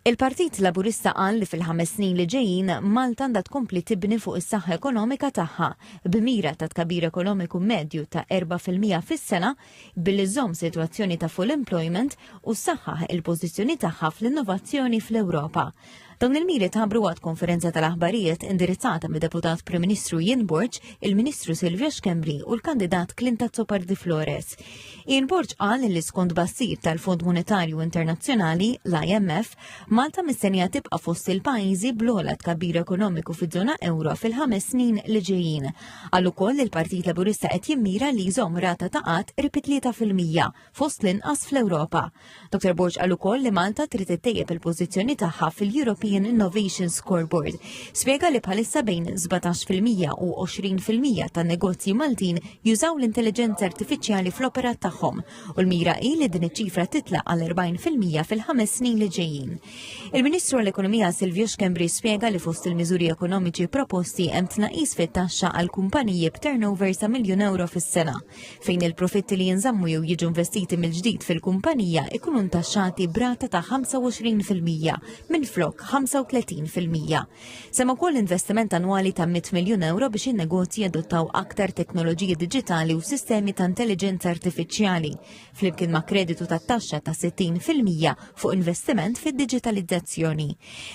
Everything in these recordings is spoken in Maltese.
Il-Partit Laburista qal li fil-ħames snin li ġejjin Malta għandha tkompli tibni fuq is-saħħa ekonomika tagħha, b'mira ta' tkabbir ekonomiku medju ta' erba' fil-mija fis-sena, billi żżomm sitwazzjoni ta' full employment u ssaħħaħ il-pożizzjoni tagħha fl-innovazzjoni fl-Ewropa. Dawn il-miri tħabbru waqt konferenza tal-aħbarijiet indirizzata mid-Deputat Prim Ministru Ian Borg, il-Ministru Silvio Schembri u l-kandidat Clinton Zopar di Flores. Ian Borg qal li skont bassir tal-Fond Monetarju Internazzjonali, l-IMF, Malta mistennija tibqa' fost il-pajjiżi bl-ogħla tkabbir ekonomiku fiż-żona euro fil-ħames snin li ġejjin. Qal ukoll li l-Partit Laburista qed jimmira li jżomm rata ta' qatt qrib 3% fost l-inqas fl-Ewropa. Dr. Borg għal ukoll li Malta trid ittejjeb il-pożizzjoni tagħha fil-European Innovation Scoreboard. Spjega li bħalissa bejn 17% u 20% ta' negozji Maltin jużaw l-intelligenza artifiċjali fl-operat tagħhom u l-mira hi li din iċ-ċifra titla' għal 40% fil-ħames snin li ġejjin. Il-Ministru għall-Ekonomija Silvio Schembri spjega li fost il-miżuri ekonomiċi proposti hemm tnaqis fit-taxxa għal kumpaniji b'turnover sa' miljun euro fis-sena. fejn il-profitti li jinżammu jew jiġu investiti mill-ġdid fil-kumpanija ikunu ntaxxati brata ta' 25% minn flok 35%. Sema wkoll investiment annwali ta' 100 miljun euro biex in-negozji jadottaw aktar teknoloġiji diġitali u sistemi ta' intelliġenza artifiċjali flimkien ma' kreditu ta' taxxa ta' 60% fuq investiment fid-diġitalizzazzjoni.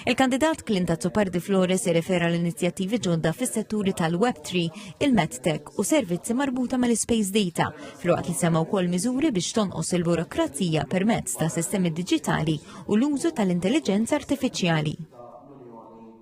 Il-kandidat Klinta Zupardi Flores irrefera l-inizjattivi ġodda fis-setturi tal-Web3, il-MedTech u servizzi marbuta mal-Space Data, filwaqt li semma wkoll miżuri biex tonqos il-burokrazija permezz ta' sistemi diġitali u l-użu tal-intelliġenza artifiċjali.